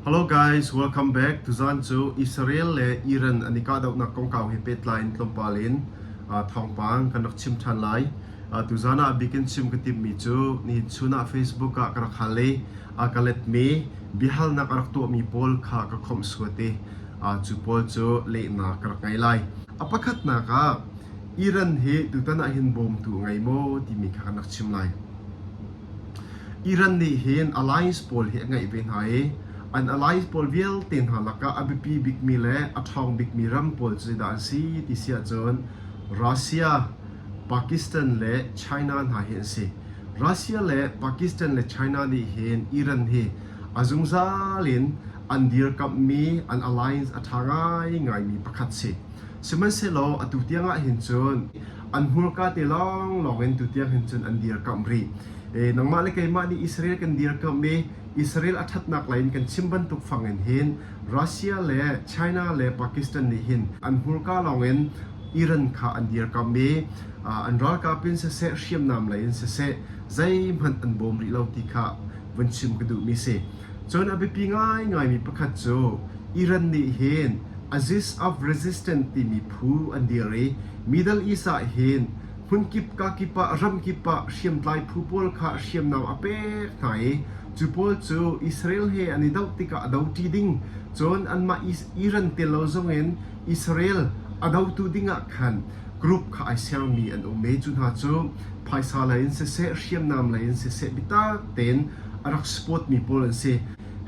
Hello guys, welcome back. Tuzan cu Israel le Iran an i kahdohnak kongkau he pehtlai in tlawmpal in uh, thawngpang kan rak chim ṭhan lai. Uh, tuzan ah bikin chim ka timmi cu ni chun ah Facebook ah ka rak hal i a ka letmi biahalnak a rak tuahmi pawl kha ka khomh suat i uh, cu pawl cu lehnak ka rak ngei lai. A pakhatnak ah Iran hi tutan ah hin bawmtu a ngei maw timi kha kan rak chim lai. Iran nih hin alliance pawl hi a ngeih ve hna i an alliance pawl vialte hna lakah a biapi bikmi le a ṭhawng bikmi ram pawl cu zeidah an si ti si ahcun Russia, Pakistan le China hna hi an si. Russia le Pakistan le China nih hin Iran hi a zungzal in an dirkamhmi an alliance a ṭha ngaingaimi pakhat si. Sihmanhsehlaw atu tiang ahhin cun an hmurka te lawnglawng in tutiang hin cun an dirkamh rih. E, nangmah le keimah nih Israel kan dirkamh i Israel a ṭhatnak lei in kan chim bantuk fang in hin Russia le China le Pakistan nih hin an hmurka lawng in Iran kha an dirkamh i an ralkap in siseh hriamnam lei in siseh zeihmanh an bawm rih lo ti kha vun chim ka duhmi si. Cun a biapi ngaingaimi pakhat cu Iran nih hin Aegis of Resistance timi phu an dir i Middle East ah hin hmunkip kakip ah ramkip ah hriamtlai phu pawl kha hriamnam a pek hna i cu pawl cu Israel he an i doh tikah a doṭi ding cun anmah Iran tel lo zongin Israel a dotu dingah khan group kha ai sermi an um ve. Cu hna cu phaisa lei in siseh, hriamnam lei in siseh biatak tein a rak support mi pawl an si.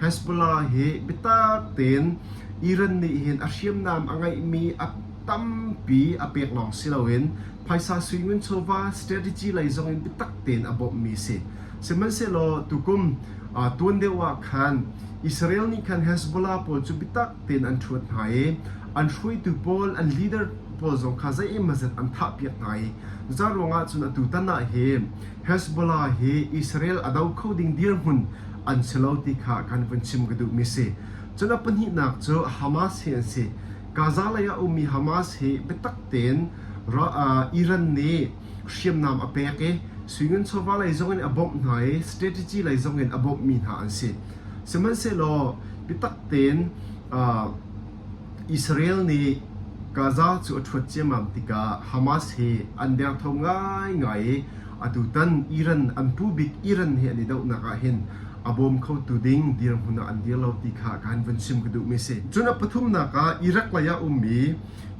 Hezbollah hi biatak tein Iran nih hin a hriamnam a ngeihmi a tampi a pek lawng si loin phaisa sui ngun chawva strategy lei zong in biatak tein a bawmhmi a si. Sihmanhsehlaw tukum tuan deuh ah khan Israel nih khan Hezbollah pawl cu biatak tein an ṭhuat hna i an hruaitu pawl, an leader pawl zong kha zeimawzat an thahpiak hna i za ruangah cun atu tan ah hi Hezbollah hi Israel a do kho ding dirhmun an si lo ti kha kan vun chim ka duhmi si. Cun a pahnihnak cu Hamas hi an si. Gaza lei ah a ummi Hamas hi biatak tein Iran nih hriamnam a pek i suingun chawva lei zongin a bawmh hna i strategy lei zongin a bawmhmi hna an si. Sihmanhsehlaw biatak tein Israel nih Gaza cu a ṭhuat ciammam tikah Hamas hi an derthawm ngaingai i atutan Iran an pu bik Iran hi an i dohnak ah hin a bawm khotu ding dirhmun ah an dir lo ti kha kan vun chim ka duhmi a si. Cun a pathumnak ah Iraq lei ah ummi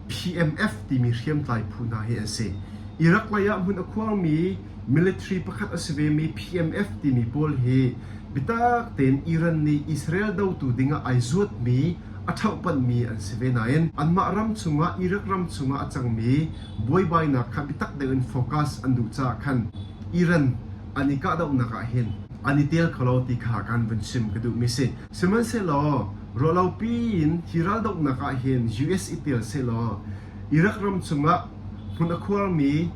PMF timi hriamtlai phu hna hi an si. Iraq lei ah hmun a khuangmi military pakhat a si vemi PMF timi pawl hi bitak tein Iran nih Israel dotu dingah ai zuatmi a ṭhauhpanhmi an si ve nain anmah ram chungah Iraq ram chungah a cangmi buaibainak kha bitak deuhin focus an duh caah khan Iran an i kahdohnak ah hin an i tel kho lo ti kha kan vun chim ka duhmi a si. Sihmanhsehlaw ruahlopi in hi raldohnak ah hin US i tel sehlaw Iraq ram chungah hmun a khuarmi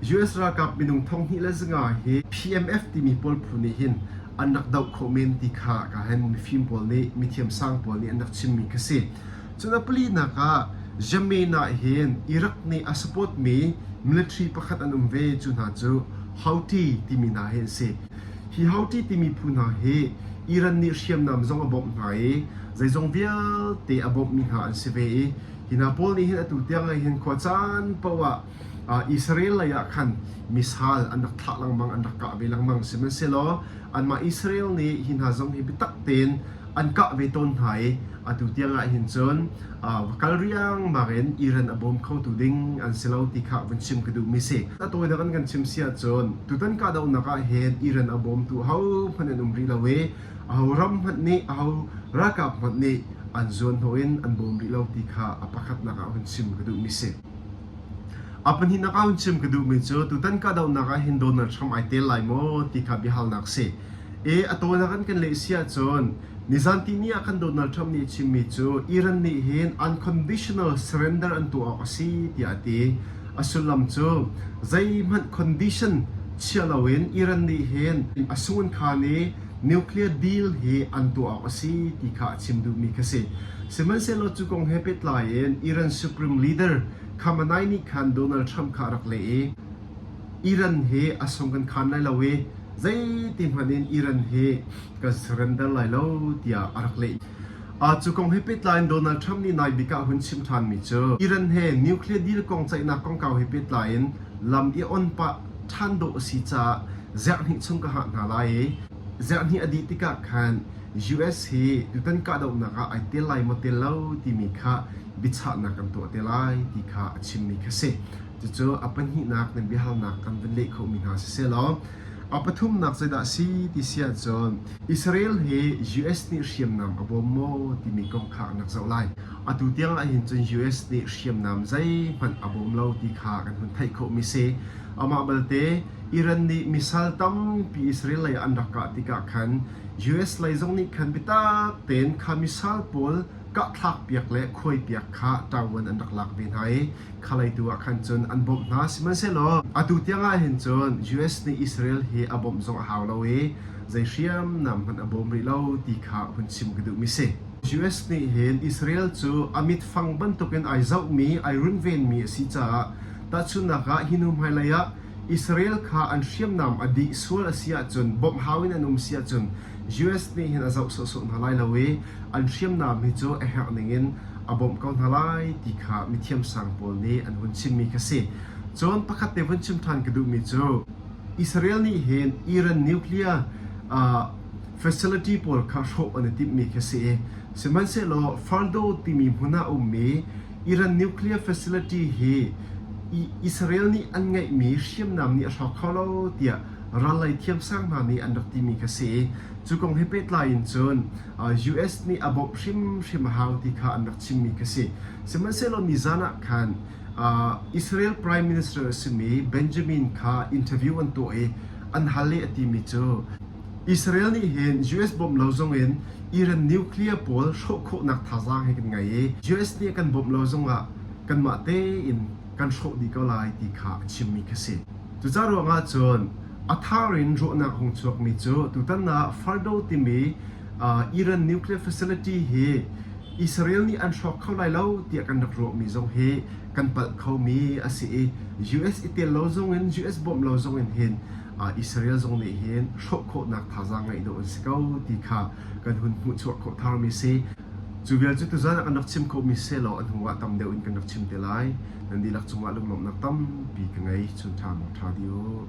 US ralkap minung thonghnih le zawnga hi PMF timi pawl phu nih hin an rak doh khawh men ti kha ka hen mifim pawl nih mithiamsang pawl nih an rak chimmi kha si. Cun a palinak ah Yemen ah hin Iraq nih a support mi military pakhat an um ve cu hna cu Houthi timi hna hi an si. Hi Houthi timi phu hna hi Iran nih hriamnam zong a bawmh hna i zeizong vialte a bawmhmi hna an si ve i hi hna pawl nih hin atu tiang ah hin khua caan paoh ah Israel lei ah khan missile an rak thlah lengmang an rak kah ve lengmang sihmanhsehlaw anmah Israel nih hi hna zong hi biatak tein an kah ve tawn hna i atu tiang ah hin cun va kal riangmang in Iran a bawm khotu ding an si lo ti kha vun chim ka duhmi si. A tawinak in kan chim si ahcun tutan kahdohnak ah hin Iran a bawmtu hohmanh an um rih lo i aho ram hmanh nih aho ralkap hmanh nih an zuan hnawh in an bawm rih lo ti kha a pakhatnak ah vun chim ka duhmi si. A pahnihnak ah hun chim ka duhmi cu tutan kahdohnak ah hin Donald Trump ai tel lai maw ti kha biahalnak a si. E, a tawinak in kan leh si ahcun nizantini ah kan Donald Trump nih chimmi cu Iran nih hin unconditional surrender an tuah awk a si tiah a ti. A sullam cu zeihmanh condition chiah loin Iran nih hin a sungin khan i nuclear deal hi an tuah awk a si ti kha a chim duhmi kha si. Sihmanhsehlaw cu kong he pehtlai in Iran Supreme Leader Khamenei nih khan Donald Trump kha a rak leh i Iran hi a sung kan khan lai lo i zeiti hmanh in Iran hi kan surrender lai lo tiah a rak leh. Uh, cu kong he pehtlai in Donald Trump nih nai bik ah hun chim ṭhanmi cu Iran he nuclear deal kong ceihnak kongkau he pehtlai in lam i on pah ṭhan dawh a si caah Ziarhhnih chung ka hngah hna lai i ziarhhnih a dih tikah khan US hi tutan kahdohnak ah ai tel lai maw tel lo timi kha biachahnak kan tuah te lai ti kha a chimmi kha si. Cucu a pahnihnak nan biahalnak kan vun leh khawhmi hna sisehlaw a pathumnak zeidah a si ti si ahcun Israel hi US nih hriamnam a bawm maw timi kong kha an rak zoh lai. Atu tiang ahhin cun US nih hriamnam zeihmanh a bawm lo ti kha kan hun theih khawhmi si. Amah balte Iran nih missile tampi Israel lei ah an rak kah tikah khan US lei zong nih khan biatak tein kha missile pawl kahthlakpiak le khuaipiak kha ṭaoan an rak lak ve hna i khalei tu ah khan cun an bawmh hna. Sihmanhsehlaw atu tiang ah hin cun US nih Israel hi a bawmh zong a hau lo i zei hriamnam hmanh a bawm rih lo ti kha hun chim ka duhmi a si. US nih hin Israel cu a mit fang bantukin ai zohmi, ai runvenmi a si caah tahchunhnak ah hi hnu hmailei ah Israel kha an hriamnam a dih sual a si ahcun bawmhhau in an um si ahcun US nih hin a zoh sawhsawh hna lai lo i an hriamnam hi cu a herh ning in a bawmh ko hna lai ti kha mithiamsang pawl nih an hun chimmi kha si. Cun pakhat te hun chim ṭhan ka duhmi cu Israel nih hin Iran nuclear facility pawl kha hrawh an i timhmi kha si. Sihmanhsehlaw Fardo timi hmun ah a ummi Iran nuclear facility hi Israel nih an ngeihmi hriamnam nih a hrawk kho lo tiah ral lei thiamsang hna nih an rak timi kha si. Cu kong he pehtlai in cun US nih a bawmh hrimhrim a hau ti kha an rak chimmi kha si. Sihmanhsehlaw nizan ah khan Israel Prime Minister a simi Benjamin kha interview an tuah i an hal i a timi cu Israel nih hin US bawmh lo zongin Iran nuclear pawl hrawh khawhnak thazaang hi kan ngei i US nih kan bawmh lo zongah kanmah tein kan hrawh dih ko lai ti kha a chimmi kha si. Cucaah ruangah cun a thar in ruahnak hung chuakmi cu tutan ah Fardo timi Iran nuclear facility hi Israel nih an hrawk kho lai lo tiah kan rak ruahmi zong hi kan palh khomi a si i US i tel lo zongin US bawmh lo zongin hin Israel zong nih hin hrawh khawhnak thazaang ngeih dawh an si ko ti kha kan hun hmuhchuah khawh tharmi si. Cu vialte tuzan ah kan rak chim khawhmi sehlaw a hnu ah tam deuh in kan rak chim te lai. Nan dihlak cungah lunglawmhnak tampi ka ngei. Chun ṭha maw ṭha dih u.